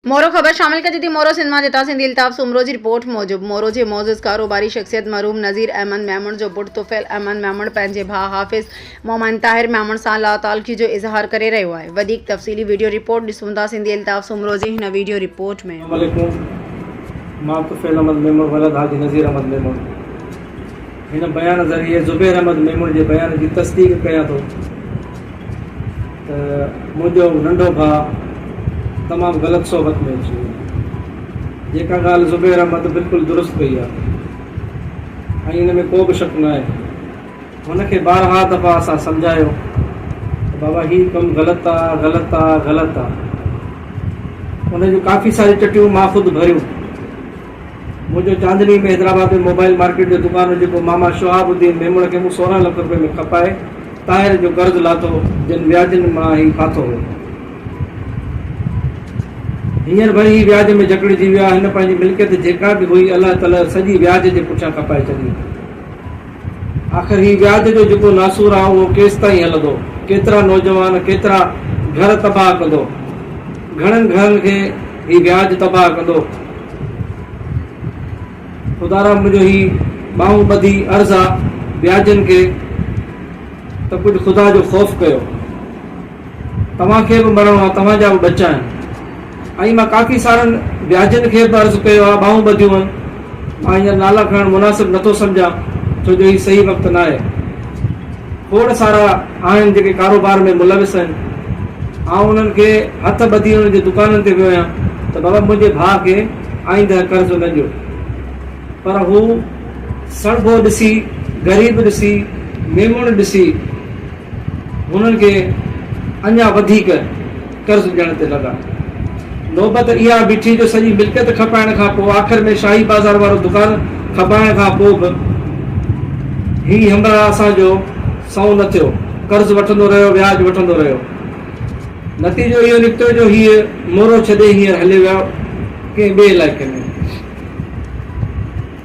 مورو خبر شامل ڪجي ٿي مورو سنڌ مان جتان سنڌي الطاف سومرو جي رپورٽ موجب مورو جي معزز ڪاروباري شخصيت مرحوم نذير احمد ميمڻ جو پٽ طفيل احمد ميمڻ پنهنجي ڀاء حافظ مومن طاهر ميمڻ سان لاتعلقي جو اظهار ڪري رهيو آهي وڌيڪ تفصيلي وڊيو رپورٽ ڏسون ٿا سنڌي الطاف سومرو جي هن وڊيو رپورٽ ۾. السلام عليڪم مان طفيل احمد ميمڻ ولد حاجي نذير احمد ميمڻ. هن بيان ذريعي زبير احمد ميمڻ جي بيان جي تصديق ڪيان ٿو ته منهنجو ننڍو ڀاء تمام غلط صحبت ۾ اچي ويو جيڪا ڳالهه زبير احمد بلڪل درست ڪئي آهي ۽ ان ۾ ڪو به شڪ ناهي هن کي بارها دفعا اسان سمجهايو ته بابا هي ڪم غلط آ غلط آ غلط آ ان جون ڪافي ساري چٽيون مان خود ڀريون منهنجو چاندني ۾ حيدرآباد ۾ موبائيل مارڪيٽ جو دڪان هو جيڪو ماما شهاب الدين ميمڻ کي مون سورهن لک روپين ۾ کپائي طاهر جو قرض لاٿو جن وياجن مان هي ڦاٿو هو. هينئر وري هي وياج ۾ جڪڙجي ويو آهي هن پنهنجي ملڪيت جيڪا به هئي الهه تلهه سڄي وياج جي پٺيان کپائي ڇڏي. آخر هي وياج جو جيڪو ناسور آهي اهو ڪيستائين هلندو؟ ڪيترا نوجوان، ڪيترا گهر تباهه ڪندو؟ گهڻن گهرن کي هي وياج تباهه ڪندو. خدا را منهنجو هي ٻانهون ٻڌي عرض آ وياجن کي ته ڪجهه خدا جو خوف ڪيو. توهان کي به مرڻو آهي، توهان جا به ٻچا آهن. ائين مان ڪافي سارن وياجن کي به عرض ڪيو آهي، ٻانهون ٻڌيون آهن. مان هينئر نالا کڻڻ مناسب نه ٿو سمجهان، ڇو جو هي صحيح وقت ناهي. کوڙ سارا آهن جيڪي ڪاروبار ۾ ملوث آهن. آئون انهن کي هٿ ٻڌي انهن جي دڪانن تي ويو آهيان ته بابا منهنجي ڀاء کي آئنده قرض نه ڏيو. پر هو سڻڀو ڏسي، غريب ڏسي، ميمڻ ڏسي، هنن کي اڃا وڌيڪ قرض ڏيڻ تي لڳا. نوبت اها بيٺي جو سڄي ملڪيت کپائڻ کان پوء آخر ۾ شاهي بازار وارو دڪان کپائڻ کان پوء به هي همراهه اسان جو سنئون نه ٿيو. قرض وٺندو رهيو، وياج وٺندو رهيو. نتيجو اهو نڪتو جو هيء مورو ڇڏي هينئر هليو ويو ڪنهن ٻئي علائقي ۾.